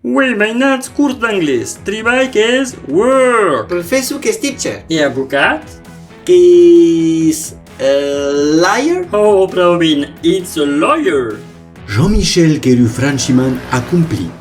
Uèi, mainats, curs d'anglés. Tribalh que es work. Professor que es teacher. E avocat? Que es a liar. Oh, prau ben, it's a lawyer. Jean-Michel qu'es lo franchiman acomplit.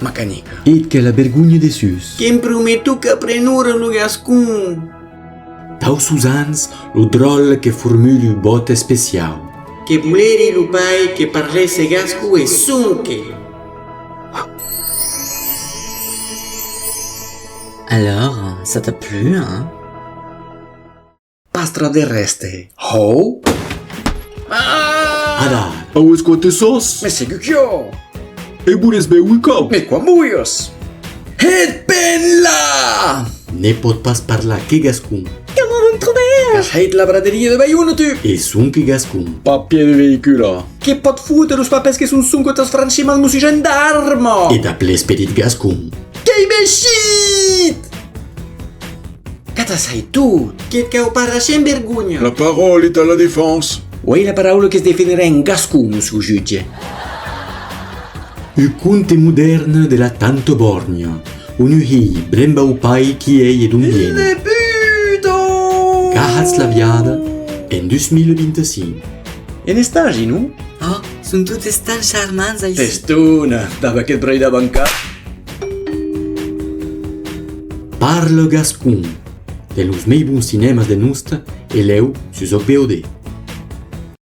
Ma canica. Eth que la bergonhe de sus. Que'm prometo qu'aprenora lo gascon. Tau sos ans, lo dròl que formulu vòt especiau. Que voleri lo pair que parlèsse gasco e sonque. Alors, ça t'a plu, hein? Pastra de reste. Hou? Ah! Ada, aues qua te sos? Me segur quio! E boles beu un cop? Me qua muios! Het ben la! Ne pot pas parlar que gascon. Comment vous me trouvez? Qu'as hait la braderia de Baiuno, tu? E son que gascon. Papier de veïcula. Que pot foutre los papers que son sonque tas franchiments mosi gendarme! E dab l'esperit gascon. Qu'ei mechit! Qu'atasai tot! Que cau pas rachè'n vergonha! La parole est à la défense. Uei la paraula que's defenderà en gascon, mossur jutge. U conte modèrn de la Tanto Borgno, unu hilh bremba u pai qui ei e d'on vien. Hilh Puto! Qu'ahatz la viada en 2025. En estagi, non? Oh, son totes tan charmants aicí. Testona! Dab aqueth braidar bancat! Parle gascon! De los mei bons cinèmas de Nosta e lèu sus òc VOD.